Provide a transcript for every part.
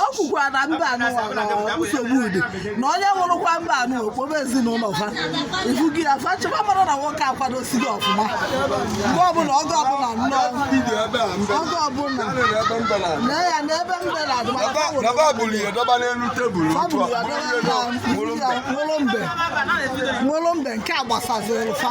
o kwukwa na mba anụ nsogbu ụdị na onye nwụrụkwa mba anụ okporo ezinụlọ fa ifugo ya fa chọba mara na nwoke akwadosighị ọfụma mgbe ọbụla oge ọbụla nnọọ oge ọbụla na ya na ebe mbela nwụrụ mbe nke a gbasaziri fa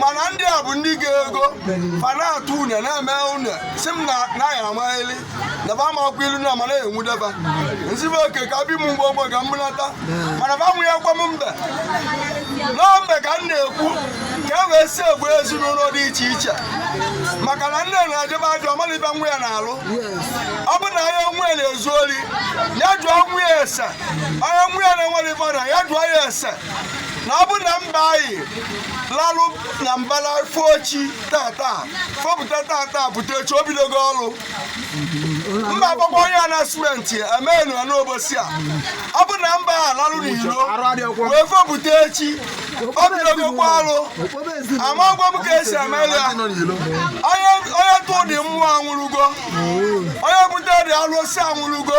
mana ndị a bụ ndị ga-ego fa na-atụ une na-eme une si m na naghị amaghịli na ba amakwa ilu na mana enwudeba nzibe oke ka bi m mgbe ogbe ka mgbunata mana ba nwunye gwa m mbe na mbe ka m na-ekwu ka e wee si egbu ezinụlọ dị iche iche maka na nne na-ejebe ajụ ọ malị ibe nwa ya na-alụ ọ bụ na onye nwa ya na-ezu ori ya jụọ nwa ya ese onye nwa ya na-enwere ife na ya jụọ ya ese na ọ bụ na mgbe anyị lalụ na mbala fochi tata fopụta tata pụta echi o bidogo ọrụ mba agbakwa onye a na simenti emenụ ya n'ụbọsị a ọ bụ na mgbe a lalụ n'ilo wee fopụta echi o bidogokwa ọrụ amagwa m ka esi eme ya onye tụ dị mmụọ anwụrụgo onye bute dị alụsị anwụrụgo